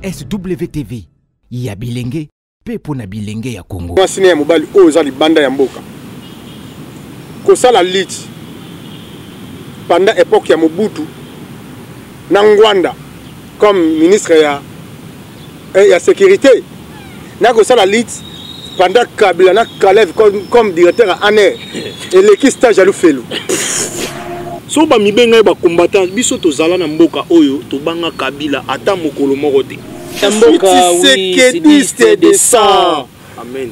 SWTV ya bilenge mpe mpo na bilenge ya Congo. Mwasi ne ya mobali oyo eza libanda ya mboka kosala lit panda epoke ya Mobutu na Ngwanda comme ministre ya, eh, ya securite na kosala lit pendant kabila na kalev comme directeur ya aner eleki stage ya lufelu so bamibe ngai bacombattant biso tozala na mboka oyo tobanga kabila ata mokolo moko te sekedi stedesant amen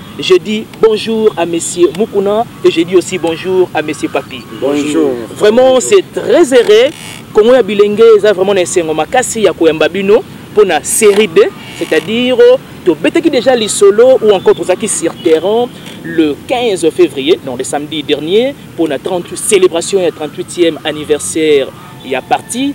Je dis bonjour à Monsieur Mukuna et je dis aussi bonjour à Monsieur Papi. Bonjour. Vraiment, c'est très heureux. Congo ya bilenge eza vraiment na esengo makasi ya koyamba bino mpo na série 2 c'est-à-dire tobetaki déjà lisolo ou encore tozalaki sur terrain le 15 février non le samedi dernier mpo na 38 célébration ya 38e anniversaire ya parti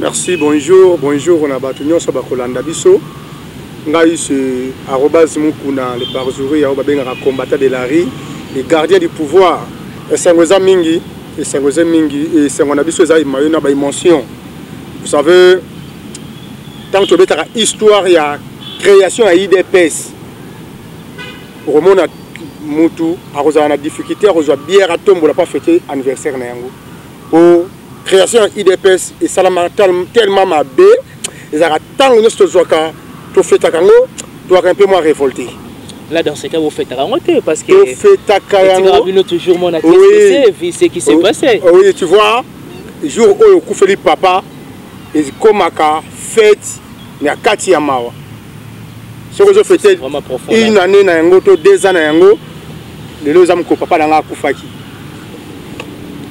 Merci, bonjour, bonjour na batu nyonso bakolanda biso. Ngai c'est arrobase mukuna le parjuri yao babengaka combattant de la rue, le gardien du pouvoir. Esango eza mingi, esango eza mingi, esango na biso eza imayo na ba emotion. Vous savez, tant que betaka histoire ya création ya IDPS, okomona mutu akozala na difficulté akozwa bière atombola pa fete anniversaire na yango. po création ya udps esalama tellement mabe ezalaka ntango nyonso tozwaka tofetaka yango tozwaka mpe mwa révolté là dans ce cas vous faites rango te parce que vous faites à kayango bino toujours mon acte oui. c'est ce qui s'est oh, passé oh oui tu vois jour oyo kufeli papa ezikomaka fête na kati ya mawa soki ozo fete une année na yango to deux ans na yango lelo oza mokolo papa na ngai akufaki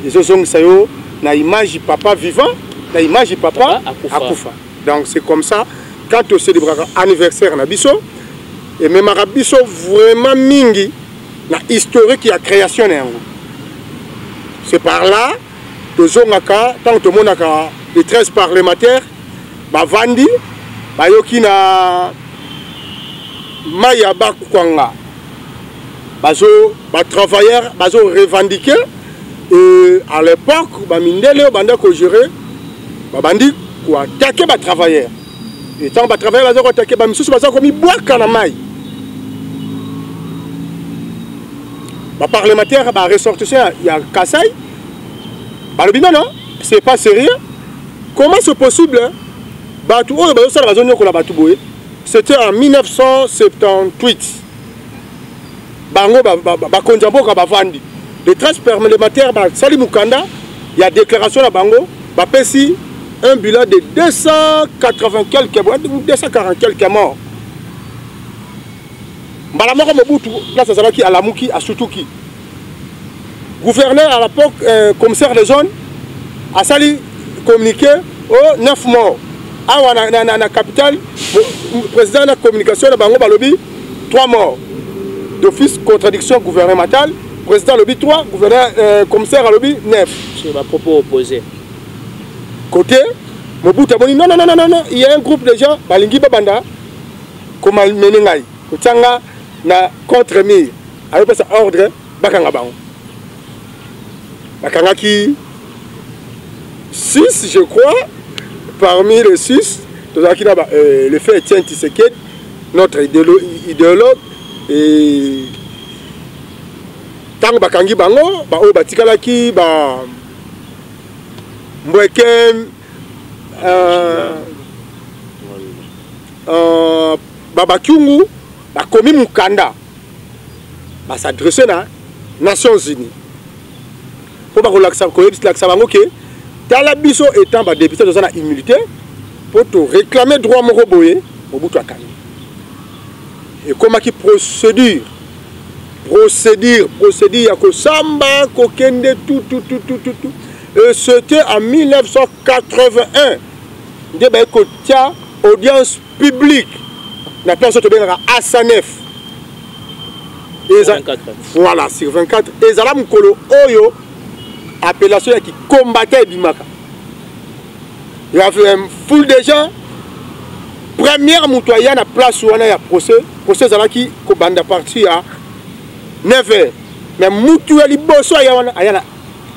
ezozongisa yo na image papa vivant na image papa akufa donc c'est comme ça quand tocelebraka anniversaire na biso ememaka biso vraiment mingi na historique ya création na yango c'est par là tozongaka ntango tomonaka les 13 parlementaires bavandi bayoki na mai ya bakwanga bazo batravailleur bazo revendiquer et à l'époque bamindele oyo banda kogere babandi koatake batravailleur Et tant ba travailler baza ko attaquer ba misusu baza ko mi bwaka na mai. Ba parlementaire ba ressortissants ya Kassai balobi non non c'est pas sérieux. Comment c'est possible bato oyo bazosala bazonyokola bato boye c'était en 1978 bango bakonzi ya mboka bavandi les 13 parlementaires basali mokanda ya déclaration na bango bapesi un bilan de 280 quelques 240 quelques morts mbala moko mobutu place azalaki alamuki asutuki gouverneur à l'époque euh, commissaire de zone asali communiqué o oh, 9 morts awa na, na, na, na capitale président na communication na bango balobi 3 morts d'office contradiction gouvernementale président alobi 3 gouverneur euh, commissaire alobi 9 sur ba propos opposés côté mobutu amoni non non non non non il y a un groupe de gens balingi babanda komalmene ngai kotia nga na contre mire ayopesa ordre bakanga bango bakangaki 6 je crois parmi les 6 tozalaki na euh, le fait etienne tiseked notre idéologue et ntango bakangi bango baoyo batikalaki ba mbweken euh, euh, babakiungu bakomi mokanda ba s'adresse na nations unies mpo bakolakisa koyebisa bango ke tala biso etant badepute toza na humilité mpo toréclame droit moko boye mobutu akangi ekomaki procédure procédure procédure ya kosamba kokende tutututututu et c'était en 1981 nde baye kotya audience public na place oyo tobengaka asanef eza voilà sur 24 ezala mokolo oyo appellation ya kikombata ebimaka ya full de gens première moto aya na place wana ya procès procès ezalaki kobanda parti ya 9 heures mais mutu ya liboso aya wana aya na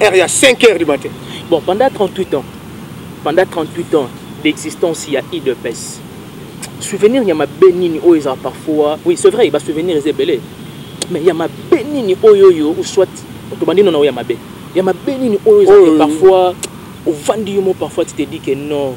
heure ya 5 heures du matin bon pendant 38 ans pendant 38 ans d'existence ya idps souvenir ya mabe nini oyo ezala parfois oui c'est vrai basouvenir eza ebele mais ya mabe nini oyo oyo ou soit tobandi nona oyo ya mabe ya mabe nini oyo ezala parfois ovandi yo mo parfois tu te dis que non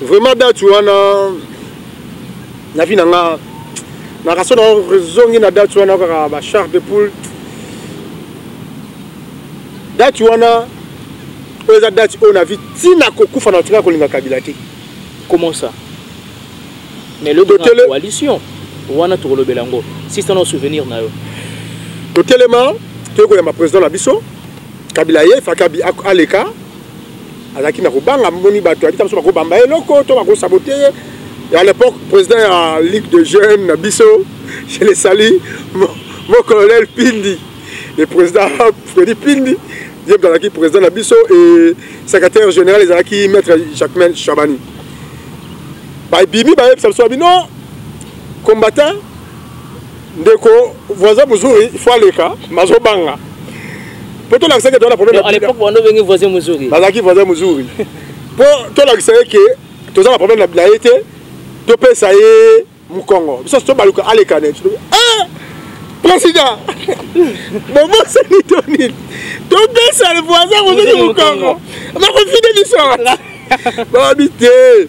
vraiment date wana na vie na nga nakaso na rezongi na date wana kaka ba char de poule date wana oyo eza date oyo na vie ntina kokufa na tika kolinga kabila te comment ça mais le totele... coalition wana tokolobela yango sista na souvenir na yo totelema toyekoyamba président na biso kabila ye fakabi aleka azalaki na kobanga moni bato yabika biso bakobamba ye eloko to bakosabote ye à l'époque président ya ligue de jeunes na biso je le sali mon colonel pindi le président fredi pindi ye moto azalaki président na biso e secrétaire général ezalaki maître jacquemain chabani babimi bayebisa biso babino combattant ndeko voisin muzuri il faut aleka mazobanga mpo tolakisa ke toza na problème voisin muzuri bazalaki voisin muzuri mpo tolakisa ye ke toza na problème na ye te topesa ye mokongo biso tobaluka aleka ne eh! président bobosani to nini topesa le voisin mosusu mokongo bakofide biso bababi te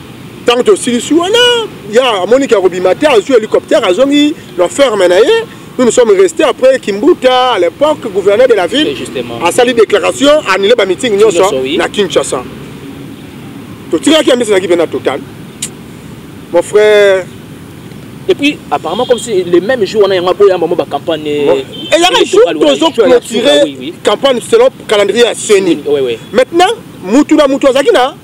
ntango tosilisi wana ya amoniki ya kobima te azwi hélicoptère azongi na ferme na ye nous nous sommes restés après kimbuta à l'époque gouverneur de la ville asali déclaration annule bamiting nyonso na kinshasa totikaki ya misanaki mpe na total mon frère et puis apparemment comme si le même jour wana yango aboya mamo bacampagne eyaka jour tozo clôturer campagne selon calendrier ya seni maintenant mutu na mutu azalaki na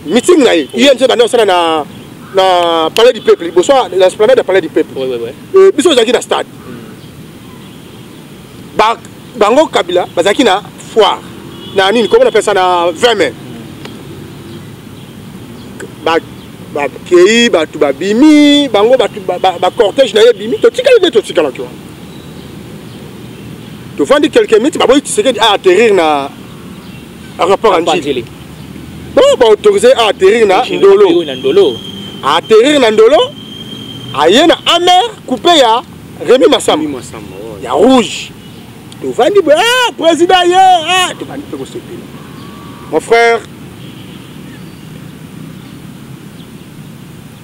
meeting na ye ye nse banda kosala na na palais du peuple liboso na esplanade ya palais du peuple euh, biso ozalaki na stade bango kabila bazalaki na foire na nini komo napesa na 20 mai bakei bato babimi bango bacortège na ye ebimi totikali nde totikalaki wana tofandi quelques minutes baboyi tisekedi a atterrir na akapaka njili po baautorise a atterrir na ndolo atterrir na ndolo aye na amer coupe ya remi masamba ya rouge tovandi boye ah, président ye ah, tobandi mpe kosepela mon frère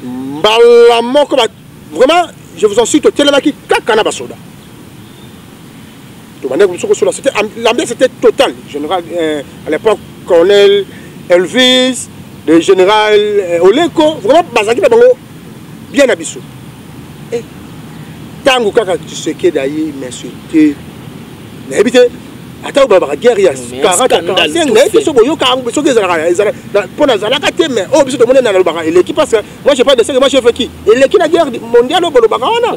mbala moko vraiment je vous en suis totelemaki kaka na basoda tobandaki biso kosola c'était l'ambiance était totale général euh, à l'époque colonel elvis le général euh, oleko vraiment bazalaki na bango bien na biso ntango eh, kaka tshisekedi aye m'insulte nayebi te ata oyo babaka guerre ya 40 naye biso boyoka yango soki ezalaka mpo nazalaka te mais oyo oh, biso tomoni nalobaka eleki parce que moi je pas de seke moi je veki eleki na guerre mondiale oyo bolobaka wana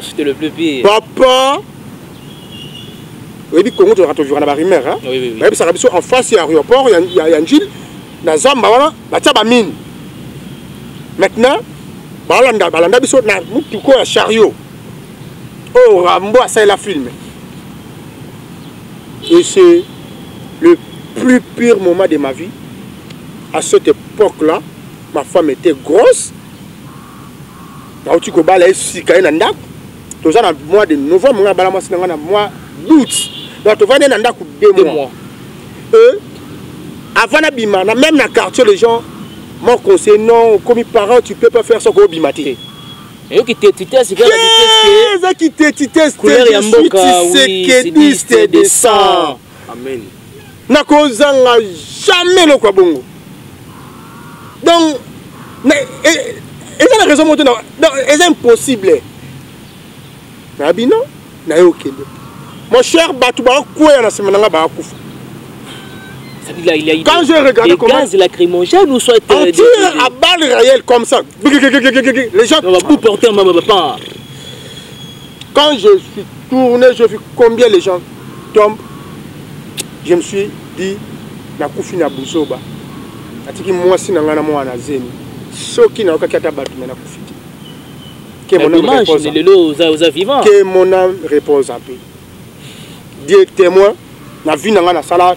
papa oyebi congo tozalaka tovivaka na barumeur bayebisaka biso en face ya aéroport ya njili na zamba wana batya bamine maintenant balanda balanda biso na motuko ya chariot oyo oh, rambo asalela filme et c'est le plus pire moment de ma vie à cette époque là ma femme était grosse nauti kobala ye sika ye na ndako toza na mois de novembre nga abala mwasi na nga na mois d'août donc tovandi na ndako deux mois e avant nabima na même na quartier les gens mon conseil non okomi parent tu peux pas faire ça koobima te eyoki tetitese eza kitetitese couleur ya mboka oui, de sang amen nakozanga jamais eloko ya bongo donc e, eza na raison moto eza impossible na bino naye okende mon cher bato bakweya na nsima na ngai bakufa Là, il y a eu Quand j'ai regardé comment... gaz lacrymogène ou soit... Euh, on tire à balles réelles comme ça. Les gens... On va vous porter un maman papa. Quand je suis tourné, j'ai vu combien les gens tombent. Je me suis dit, na kufi na buzoba. Atiki mwasi na nga na mwana zemi. Soki na okaki ata batu na kufi te. Que mon âme repose. Lelo oza oza vivant. Que mon âme repose en paix. Dieu témoin, na vie na nga na sala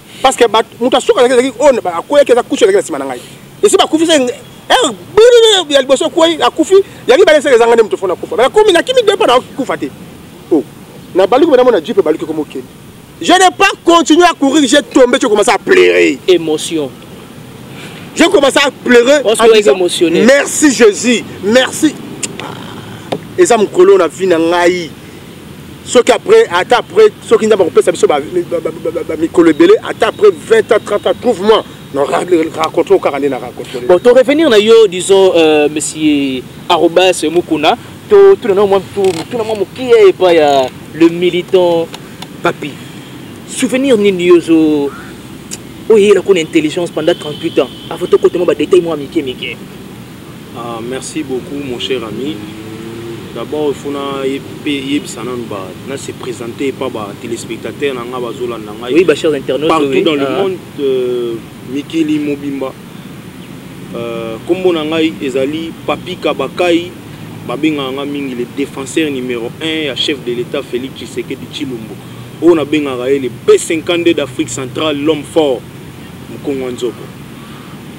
parce que moto asuka azalaki ezalaki oyo oh, akweyaki eza kusu ezalaki na nsima na ngai esi bakufisa eh, ya liboso ekwei akufi ya mibale esala ezanga nde moto fona akufa bakomi nakimi depa na kufa te oh, na baluki bana mona jipe baluki komokende je n'ai pas continué à courir j'ai tombé tu commencé à pleurer émotion je commencé à pleurer en disant, merci jésus merci eza mokolo na vie na ngai soki après ata après soki nzambe akopesa biso bamikolo ebele ata après 20 ans 30 ans trouve moi raconte o kaka nde na raconte bon to revenir na yo disons euh, monsieur arobas mokuna totuna na mwa mituna mwa mokie epai ya le militant papi souvenir nini yozo oyela kuna intelligence pendant 38 ans avant tokotema badetail mwa mike mike Ah, merci beaucoup mon cher ami. D'abord, il faut na yebisa nanu ba na se présenter pas ba téléspectateurs na nga bazolanda ngai. Oui, ba chers internautes partout oui. dans le ah. monde euh, mikili mobimba. Euh, kombo na ngai ezali Papi Kabakai babengaka nga mingi le défenseur numéro 1 ya chef de l'État Félix Tshisekedi Tshilombo. Oyo nabengaka ye le B52 d'Afrique centrale, l'homme fort, Mkongo Nzoko.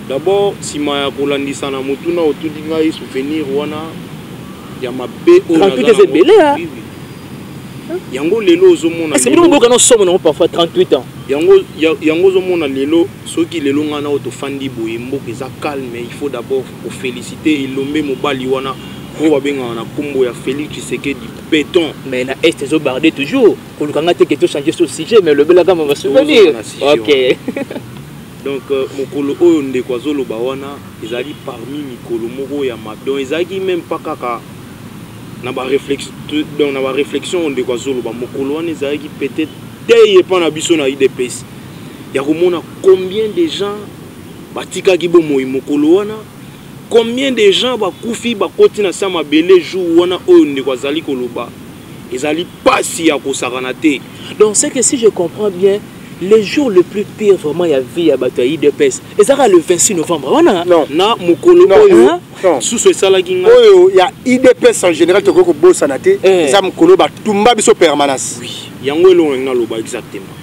D'abord, sima ya kolandisa na motuna otudi ngai souvenir wana ya mabe oyo 38 eza ebele ya yango lelo ozomona est-ce que bino boka na somo nango parfois 38 ans yango yango ozomona lelo soki lelo ngai nao tofandi boye mboka eza calme il faut d'abord kofélicite elombe mobali wana oyo babengaka na nkombo ya félix tshisekedi béton mais na est ezobarde toujours koluka ngai te ke tochange so sujet mais olobelaka ma souvenir ok donc euh, mokolo oyo ndeko azoloba wana ezali parmi mikolo moko ya mabe donc ezalaki meme pas kaka na baréflexion donc na baréflexion oyo ndeko azoloba mokolo wana ezalaki peut-être te epa na biso na udps ya komona combien de gens batikaki bomoi mokolo wana combien de gens bakufi bakoti na se ya mabele jour wana oyo ndeko azali koloba ezali pasi ya kosakana te donc c'est que si je comprends bien le jour le plus pire vraiment ya vie ya bato ya idps ezalaka le 26 novembre wana na mokolo oyo susu esalaki ngai oyo ya idps en général tokoki kobosana te eh. eza mokolo batumba biso permanence yango elongo naloba exactement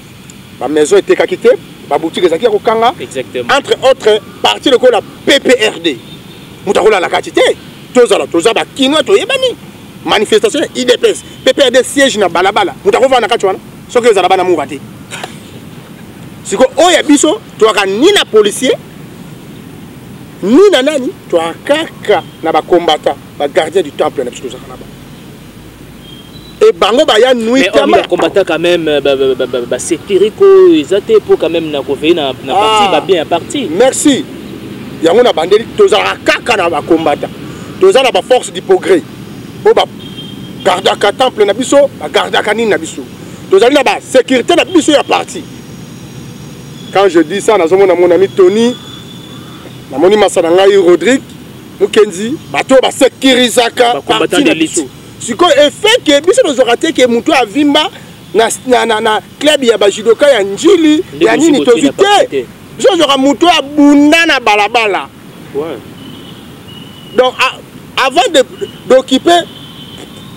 ba maison etekaki te ba boutique ezalaki ya kokanga entre autres parti lokola pprd moto akolala kati te tozala toza bakinois toyebani manifestation ya idps pprd siège na balabala moto akovanda kati wana soki ezala bana mura te siko oyo ya biso toyaka ni na policier ni na nani toyaka kaka na bacombatant bagardien du temple na biso tozalaka na bango et bango baya nuit mais on combattant quand même ba ba ba ba, ba sécurité ko eza te po quand même na ko veiller na na ah. partie ba bien partie merci yango na bandeli tozalaka kaka na ba combattant toza na ba force du progrès po ba gardaka temple na biso ba gardaka nini na biso tozali na ba sécurité na biso ya partie quand je dis ça nazomona mon ami Tony namoni masa na ngai Rodrigue Mukenzi bato basekirisaka parti na biso sikoyo efeke biso tozwaka te ke motu avimba na, na, na, na club ya bajudoka ya njili ya nini tozwi te biso tozwaka motu oyo abunda na balabala ouais. donc a, avant d'occuper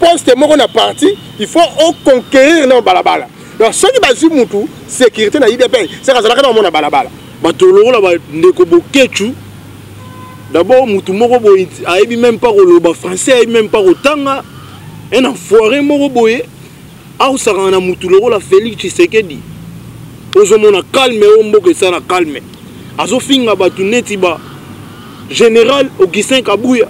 poste moko na parti il faut oconquérir na balabala donc soki bazwi motu sécurité na idps saka azalaka na omona balabala bato lokola bandeko bokecu D'abord mutu moko boye ayebi même pas koloba français, ayebi même pas kotanga. Un enfoiré moko boye aosakana na mutu lokola Felix Tshisekedi. Ozomona calme oyo mboka esala calme. Azofinga batu neti ba Général Augustin Kabuya.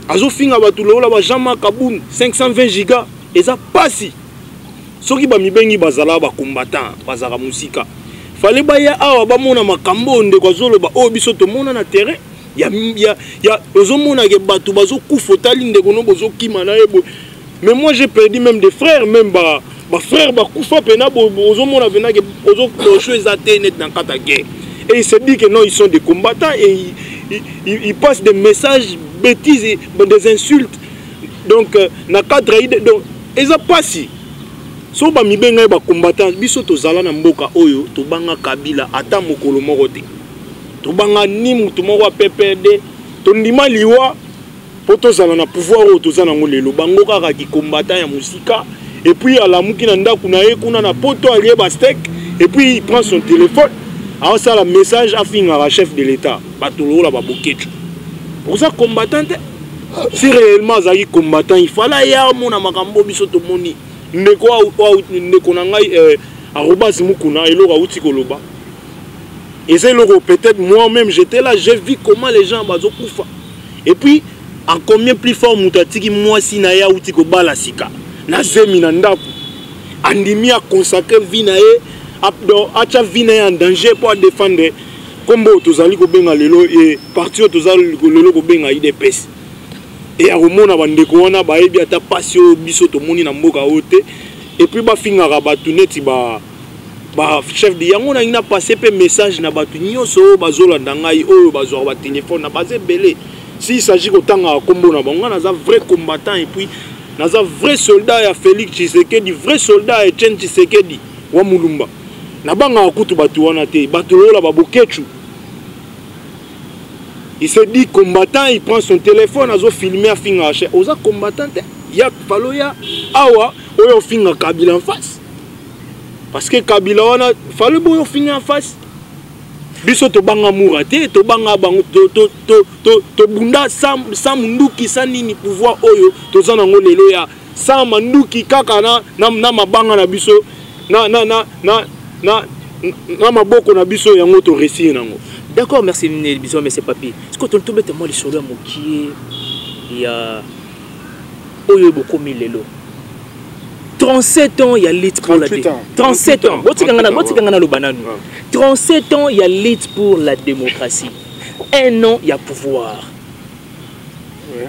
Azofinga batu lokola ba Jean-Marc Kabund 520 giga eza pasi. soki bamibengi bazalaka bacombattant bazalaka mosika fale baya awa bamona makambo oyo ndeko azoloba oyo biso tomona na terrain ya, ya, ya ozomonake bato bazokufa otali ndeko no bozokima na ye boye mais moi j'ai perdu même des frères même ba bafrère bakufa mpena ozomona mpenake ozokocho eza te neti na kata guerre et il se dit que non ils sont des combattants et ils, ils, ils, ils passent des messages bêtises des insultes donc euh, na cadre donc eza pasi so bamibenga ye bacombattant biso tozala na mboka oyo tobanga kabila ata mokolo moko te tobanga ni moto moko ya ppd tondima liwa mpo tozala na pouvoir oyo toza nango lelo bango kaka kicombattant ya mosika epuis alamuki na ndako na ye kuna na poto alie bastek epuis il prend son téléphone aosala message afingaka chef de l'état bato lokola baboketi oza combattant te si réellement azalaki combattant il fallait aya amona makambo biso tomoni ndeko ndeko na ngai euh, arobas mukuna eloko awuti koloba eza eloko peut-être moi même j'étais là j'ai vu comment les gens bazokufa et puis en combien plus fort moto atiki mwasi na ye awuti kobala sika na zemi na ndako andimi aconsacre vie na ye atya vie na ye en danger mpo adefendre nkombo oyo tozali kobenga lelo e parti oyo toza lelo kobenga idps e ya komona bandeko wana bayebi ata mpasi oyo biso tomoni na mboka oyo te epuis bafingaka bato neti ba bachef de yango nangi na passe mpe message na bato nyonso oyo bazolanda ngai oyo bazwaka batelefone na baza ebele s'il s'agit kotangaka nkombo na bango ngai naza vrai combattant epuis naza vrai soldat ya félix tshisekedi vrai soldat ya etienne tshisekedi wa mulumba nabangaka kutu bato wana te bato lokola baboketshu il se dit combattant il prend son téléphone azofilme afingaka che oza combattant te ya falo ya awa oyo ofinga kabila en face parce que kabila wana falo boyo ofinga en face biso tobanga mura te tobanga bango tobunda sans munduki sans nini pouvoir oyo toza nango lelo ya sans manduki kaka na, na, na mabanga na biso na, na, na, na, na, na maboko na biso yango toresir nango d'accord merci biso monsieur papi siko tobeta mwa lisolo ya mokie ya oyo bokomi lelo 37 ans ya lutte pour la 37 ans botikanga na botikanga na loba nanu 37 ans ya lutte pour la démocratie un an ya pouvoir ouais.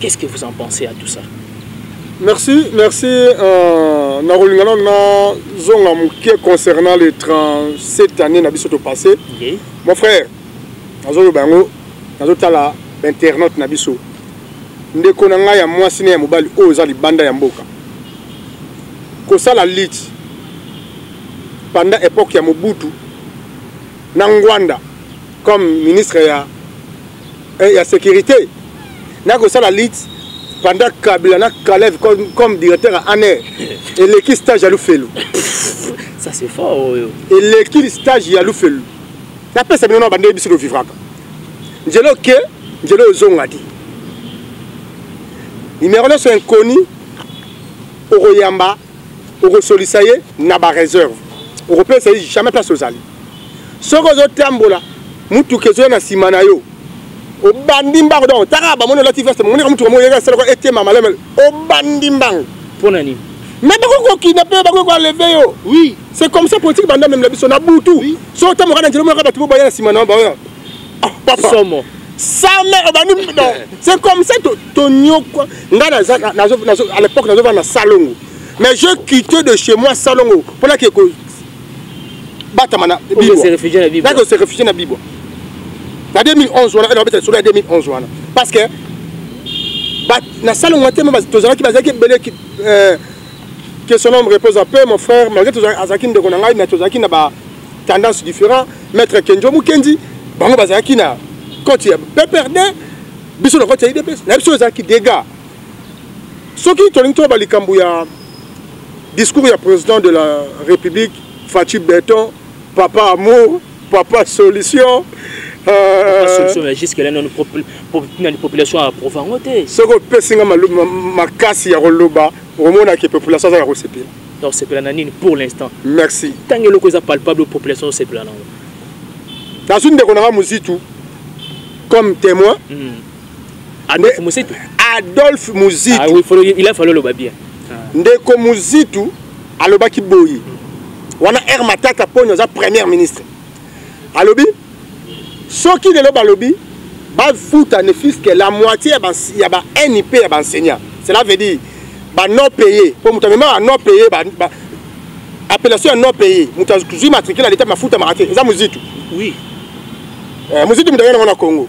qu'est ce que vous en pensez à tout ça merci merci euh, nakolinga nano nazonga moke concernant les 37 années na biso topasse okay. mon frère nazoloba yango nazotala bainternaute na biso ndeko na ngai ya mwasi na ya mobali oyo eza libanda ya mboka kosala lite panda epoke ya mobutu na ngwanda comme ministre ya, eh, ya sécurité na kosala lutte pendant kabila na kalev comme, comme directeur ya aner eleki stage ya lufelu ça c'est fort oyo oh, eleki stage ya lufelu napesa bino na bande biso tovivraka nzela oke nzela ozonga te nimero nyonso inconnu okoyamba okosolisa ye na bareserve okopesa ye jamais place ozali soki ozotambola mutuka ezoya na nsima na yo obandi mbango donc taka bamoni olati veste moneka mutuka moko yeka esalaka etema malemele obandi mbango mpo na nini mais bakoki kokina mpe bakoki koaleve yo oui c'est comme ça politique banda meme na biso na butu oui. so otamboka na nzela omonaka bato bo baya na nsima na baoya ah, papa somo same obandi non c'est comme ça tonyokwa ngai naza à l'époque nazovanda na salongo mais je quitté de chez moi salongo mpo nakeko batama na bibwa se réfugier na bibwa nako se réfugier na bibwa na 2011 wana elobeta solo ya 2011 wana parce que na salle ngwa te tozalaki bazalaki ebele euh, que son homme repose en paix mon frère malgré azalaki ndeko na ngai mais tozalaki na ba tendance différent maître kenjo mukendi bango bazalaki na koti ya pprd biso na koti ya idps na biso ezalaki dégât soki tolingi toyeba likambo ya discours ya président de la république faci beton papa amour papa solution soki opesi nga makasi ya koloba omonaki population azalaka kosepela tosepela na nini pour l'instant merci ntango eloko eza palpable population osepela nango nazwi ndeko nanga mozitu comme témoin mm. Adolphe Muzitu. Adolphe Muzitu. Ah oui, faut, il a fallu le bien. Ah. Ndeko Muzitu alobaki boyi. Wana R Matata Ponyo aza premier ministre. Alobi soki lelo balobi bafuta ne fils que la moitié ya ba ya ba NIP ya ba enseignants. Cela veut dire ba non payé. Pour mutu mema ba non payé ba, ba appellation ya non payé. Mutu azui matricule à l'état mafuta marate. Eza Muzitu. Oui. Euh, Muzitu mutayana wana Congo.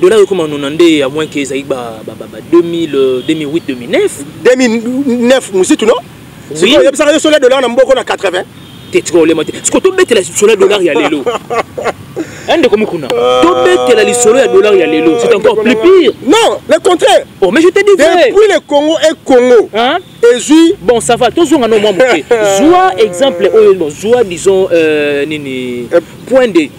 dollar ekoma nona nde ya moins ke ezalaki ba 2008 2009 2009 mositu no sikoyo oyebisaka yo sola dollar na mboko na 80 te tika olema te sikoyo tobetela lisolo ya dollar ya lelo eh, ndeko mokuna euh, tobetela lisolo ya dollar ya lelo c'est encore plus pire non le contraire oh mais je te dis depuis le congo et congo hein? ezwi bon ça va tozonga no mwa moke zwa exemple oyo bon zwa disons euh, nini euh, point de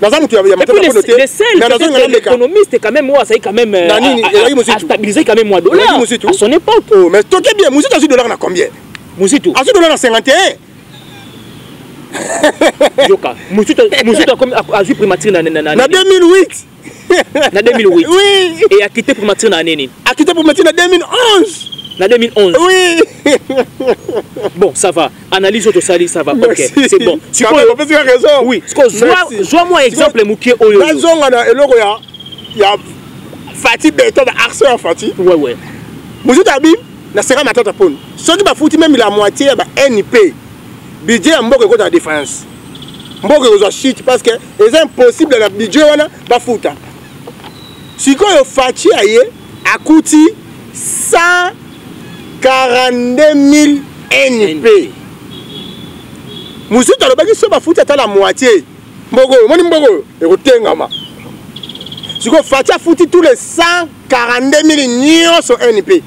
naza moto ya matata kono te mais nazo ngala meka économiste quand même oyo quand même euh, na nini ezalaki muzitu stabiliser quand même moi dollar muzitu à son époque oh mais toke bien muzitu azui dollar na combien muzitu azui dollar na 51 yoka muzitu muzitu azui primature na na na 2008 na 2008 oui et a quitté primature na année nini a quitté primature na 2011 na 2011 oui bon ça va analyse oyo sali ça va ok c'est bon sikoyo opesi ka raison oui sikoyo zwa mwa exemple mokie oyo nazonga na eloko ya ya fati beton ba arceur ya fati ouais ouais mosusu abi naseka matata poni soki bafuti meme la moitié ya ba nip budget ya mboka ekota na défense mboka ekozwa chute parce que eza impossible na budget wana bafuta sikoyo faci aye akuti 142000 np mosusu alobaki so bafuti ata la moitié mboka oyo omoni mboka oyo ekotengama sikoyo faci afuti tous les 142000 nyonso np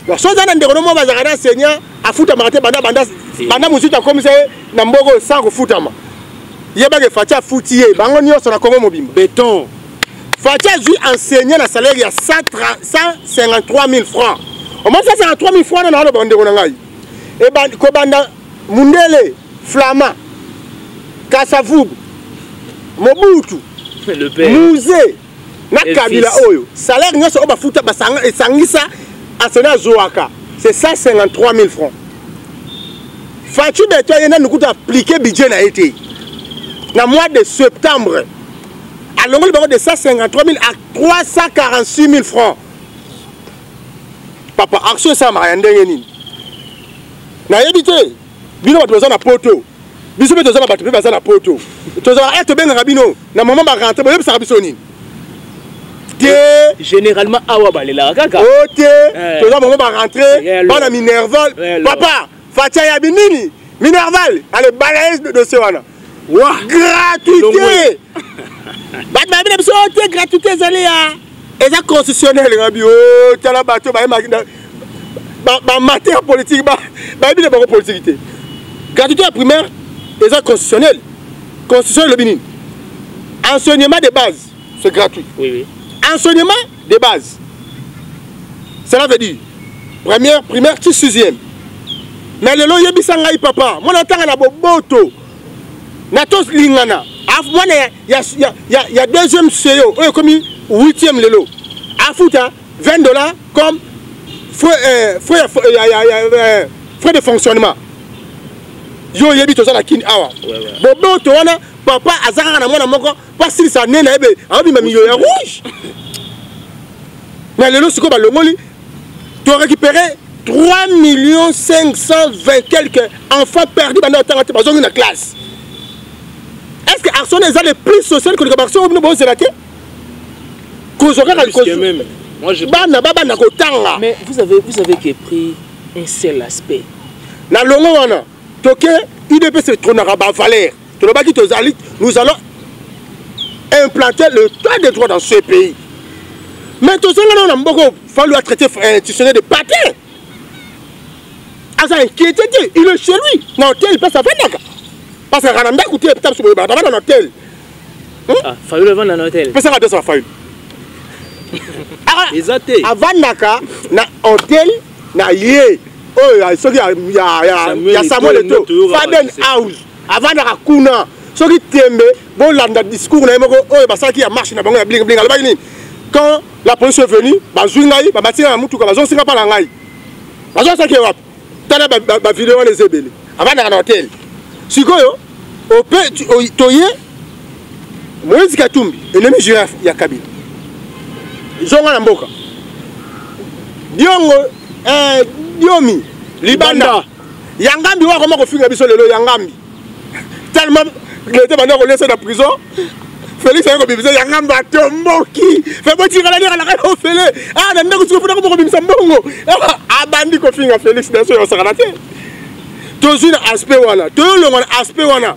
soki oza na ndeko no moko bazalaka na enseignant afutamaka te banda banda banda mosusu akomisa ye na mboko oyo sans kofutama yebaka efaci afuti ye bango nyonso na kongo mobimba beton faci azwi enseigne na salaire ya 153 000 franc omoni 153 000 franc na naloba bandeko na ngai e kobanda mundele flama kasavubu mobutu musee na kabila oyo salaire nyonso oyo bafuta esangisa asena azwaka c'est 153 000 francs faci beto aye nanu kutu aplike budget na ye te na mois de septembre alongoli bango de 153 000 à 346 000 francs papa action esalamaka ya ndenge nini nayebi te bino bato baza na poto biso mpe toza na bato mpe baza na poto tozalaka e tobengaka bino na mama barentre boyebisaka biso nini te généralement awa balelaka kaka o oh, te eh. toza mama barentre bana minerval papa fatia yabi nini minerval ale balaye dossier wana wa gratuité bato bayebi na biso te gratuité ezali ya eza constitutionnel ngabi o oh, tala bato baye bamateur politique bayebi na bango politique te gratuité ya primaire eza constitutionnel constitution elobi nini enseignement de base c'est gratuit oui, oui. enseignement de base cela veut dire première primaire ti sixième na lelo yebisa ngai papa mwana atanga na boboto na tolingana mwana ya, ya, ya, ya, ya deuxième seo oyo ekomi huitième lelo afuta 20 dollars comme frais, euh, frais, euh, ya, ya, ya, euh, frais de fonctionnement yo oyebi toza na kini awa boboto wana papa aza kaka na mwana moko basilisa ne na yebe abima miliyo ya rouge na lelo sikoyo balongoli to récupéré 3 millions 520 quelques enfants perdu banda batanga te bazongi na classe est ce que arson eza le plus social koleka barso oyo bino bozela te kozwa kaka bana babanda kotanga mais vous avez, vous avez que pris un seul aspect na longo wana toke udps etronaka bavaleur tolobaki tozali nous allons implanter le droit de droit dans ce pays mais tozonga nao na mboko falu a traité euh, institutionnel de patin aza inquiété te il est chez lui na hotel place afandaka parce que kana ndako te pita biso boye bana bana na hotel fayulu avanda na hotel pesaka biso fayulu eza te avandaka na hotel na ye oyo soki ya samuel eto faden house avandaka kuna soki tembe bolanda discours na ye moko oyo basalaki ya marche na bango ya bling bling alobaki nini quand la police est venue bazwi ngai babati ngai na motuka bazongisi ngai mpa na ngai bazosaki wapi tala bavideo wana eza ebele avandaka na hotel sikoyo ope toye moïse katumbi elemi girafe ya kabila zonga na mboka diongo eh, diomi libanda ya ngambi oyo akoma kofinga biso lelo ya ngambi tellement leta banda kolesa na prison felix aye kobimisa ya ngambi atomboki fe botikala nde alaka na ofele a ah, na ndako siko mpona koma kobimisa mbongo ah, abandi kofinga felix na so yosakana te tozwi na aspect wana toyolongwa na aspect wana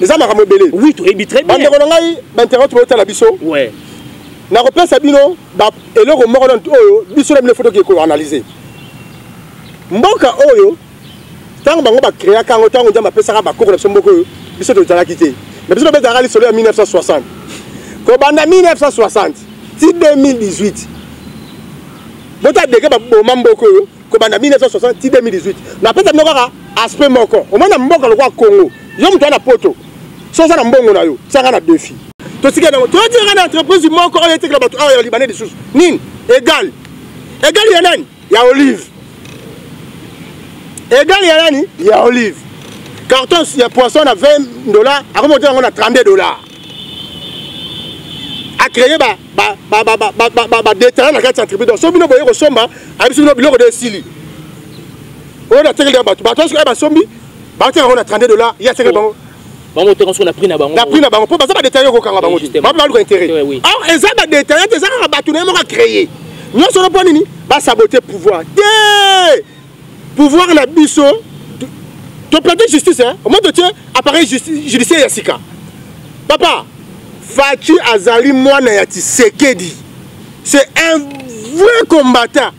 eza makambo ebele oui toyebi très bien bandeko na ngai bainternet toyotala biso ouais nakopesa bino eloko moko na oyo biso na bino fo toki koanalyse mboka oyo ntango bango bakreaka yango ntango nzambe apesaka bakoko na biso mboka oyo biso tozalaki te na biso tobetaka lisolo ya 1960 kobanda 1960 ti 2018 botadeke baboma mboka oyo kobanda 1960 ti 2018 napesa bino kaka aspect moko omoi na mboka lokola congo yo moto ya na poto so oza na mbongo na yo tiaka na defi tosika nango toyotiyaka na entreprise moko oyo etekela bato awa ya libanais lisusu nini egal egal ya nani ya olive egal ya nani ya olive carton ya poisson na 20 dollar akomi kotia yango na 32 dollar acreye badetala na kati ya tribu donc so bino boye kosomba ayebi so bino biloko de esili oyo natekeli ya bato bato soki basombi baoteka yango na 32 dollar ye atekeli bango bango teka soki na prix na bango na prix na bango mpo baza badetaille okokanga bango te bape baluka intérêt or eza badetaille te eza kaka bato na ye moko acreye nyonso no mpo nini basabote pouvoir te pouvoir na biso toplante justice hein? omoi totie appareil judiciaire ya sika papa faci azali mwana ya tisekedi c'est un vrai combattant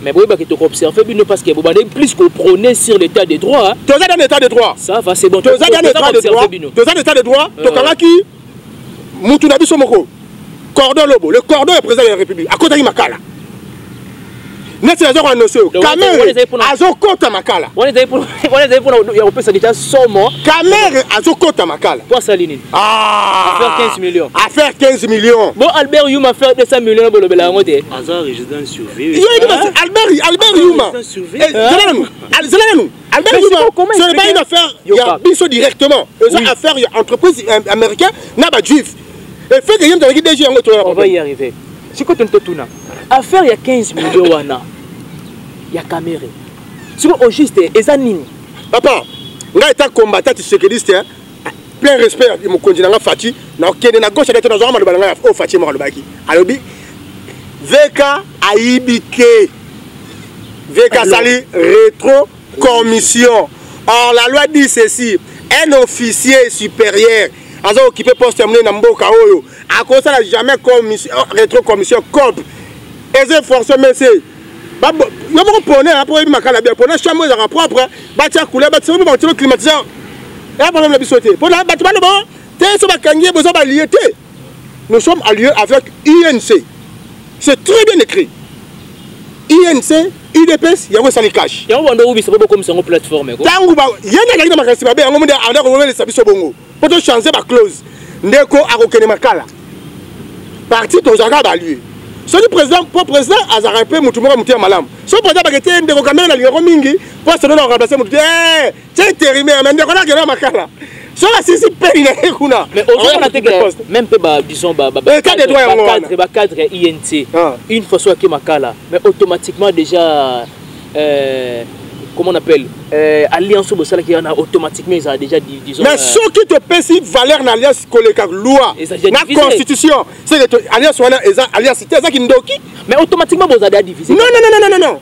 mais boyebaki tokoobserve bino parce que bobandaki plus koprône sur l'état de droit toza dans l'état de droit ça va c'est bon toza dans l'état de droit toza dans l'état de droit tokangaki euh. mutu na biso moko cordon lobo le cordon ya président de la république akotaki makala neti naza koanonse yo kamere azokota makala wana ezali mpona ya kopesa deja somo kamere azokota makala po asali nini affaire 15 million affaire 15 million bo albert yuma affaire 200 million bolobela yango te aza résidence surveillée yo yebi albert albert yuma zela nanu zela nanu Allemagne Mais sikoyo comment ce n'est pas expliquer- une affaire Yo, ya Pape. biso directement eza Oui. affaire ya entreprise am- américain na ba juif effet que ye moto alaki dg yango on va y etoyana arriver sikoyo toni totuna affaire ya 15 million wana ya kamere sikoyo au juste eza nini papa ngai eta combattant tisekeliste plein respect ya mokonzi na nga fati nakende na gauche adate nazwaka maloba na ngai oyo oh, fati moko alobaki alobi vk ayibi te vk asali retro commission or la loi dit ceci un officier supérieur aza okipe poste ya monene na mboka oyo akosala jamais commission, retro commission cop eza force mese yo moko pone ya po oyebi makala bia pone chambre ezalaka propre batia couleur batisa mpe bakotilo climatiseur eya problème na biso te mpo na bato baloba oh, te so bakangi ye boza balie te nous sommes alliés avec inc c'est très bien écrit inc udps yango esali cash yango bando obisa mpo bokomisa yango plateforme ntango ye nde azalaki na makanisi mabe yango mode anda kowelisa biso bongo mpo tochange baclause ndeko akokende makala parti tozalaka balue soki président mpo président azalaka mpe motu moko motu ya malamu soki président bake te ndeko kamere nalingako mingi mpo asolo na remplace motu te eh, tie intérimaire me ndeko nakenda makala soki asisi peni na ye kuna même mpe badison bacadre inc une fois soki ake makala mais automatiquement déjà euh, comment on appelle euh, alliance bosalaki wana automatiquement ezala déjà disons mais euh, soki topesi valeur na alliance koleka loi na constitution c'est que alliance wana eza alliance te ezaki ndoki mais automatiquement bozala déjà divisé non non non non non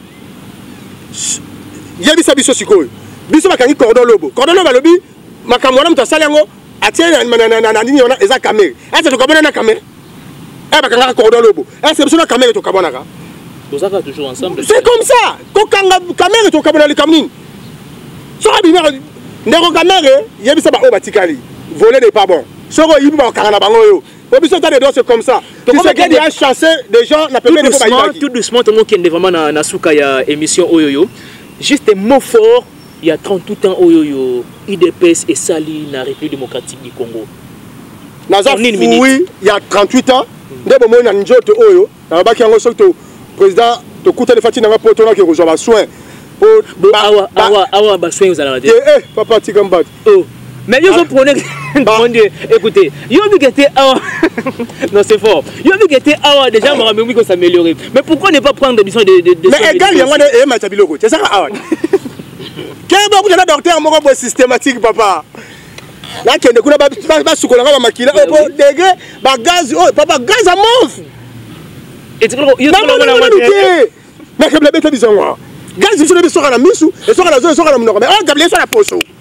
yebisa biso sikoyo biso bakangi cordon lobo cordon lobo alobi makambo wana moto asali yango atie na nini wana eza kamere ete tokomona na kamere eh bakangaka cordo lobo est ce biso na kamere tokabwanaka tozaka toujours ensemble c'est comme ça kokanga kamere tokabwana likambo nini soki abimaka ndeko kamere yebisa baoyo batikali volet n'est pas bon soki oyibi bakokanga na bango oyo po biso ta de doit se comme ça kisekedi a chassé des gens na pembeni po bayibaki tout doucement tongokende vraiment na, na suka ya émission oyo yo juste mot fort Il y a 38 ans oyo yo IDPS et Sali na République démocratique du Congo. Naza oui, il y a 38 ans nde bomoni na njoto oyo nalobaki yango soki to président tokutani fati nanga mpo tonaki kozwa basoin awa basoin ozalaka te eh, eh, papa tika mbati oh. Mais yo zo prôner mon Dieu, écoutez, yo vu que t'es awa. non, c'est fort. Yo vu que t'es awa déjà mon ami ko s'améliorer. Mais pourquoi ne pas prendre des missions de de de Mais égal yango na e macha biloko. C'est ça awa. Keba ku na docteur moko bo systématique papa. Là kende kuna ba ba sukola ba makila opo oh, degre ba gaz oh papa gaz à mort. Et tu vois yo tolo na mate. Mais kebla beta bizongo. Gaz biso na biso kana misu, esoka na zo esoka na munoko. Mais oh kebla esoka na poso.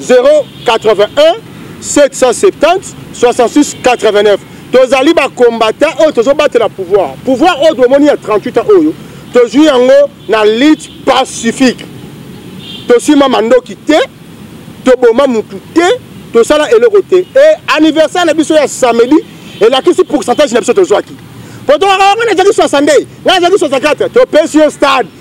081 770 66 89 tozali bakombata oyo tozobatela pouvoir pouvoir oyo tomoni ya 38 ans oyo tozwi yango na lutte pacifique tosima mandoki te toboma mutu te tosala eloko te e anniversaire na biso ya samedi elakisi pourcentage na biso tozwaki po tokaka wana ezalaki 62 ngai ezalaki 64 topesi yo stade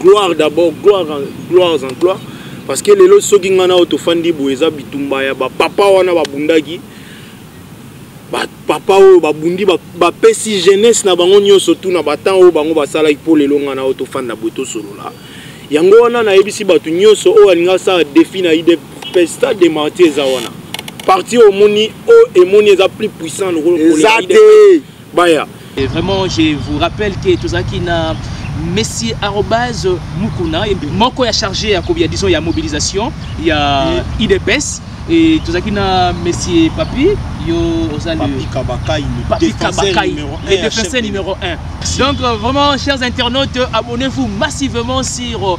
gloire d'abord gloire gloires en gloire parce que lelo soki ngai nao tofandi boye eza bitumba ya bapapa wana babundaki bapapa oyo babundi bapesi jeunesse na bango nyonso tu na batemp oyo bango basalaki mpo lelo ngai nao tofanda boye tosolola yango wana nayebisi bato nyonso oyo alingi asala defi na ide pesta de marti eza wana parti omoni oyo emoni eza plus puissant lokola eza te baya Et vraiment je vous rappelle que tozalaki na messi arobase mukuna moko ya chargé ya kobi ya disons ya mobilisation ya idps et tozalaki na messi papi yo oza le défenseur numéro 1 donc euh, vraiment chers internautes abonnez-vous massivement sur euh,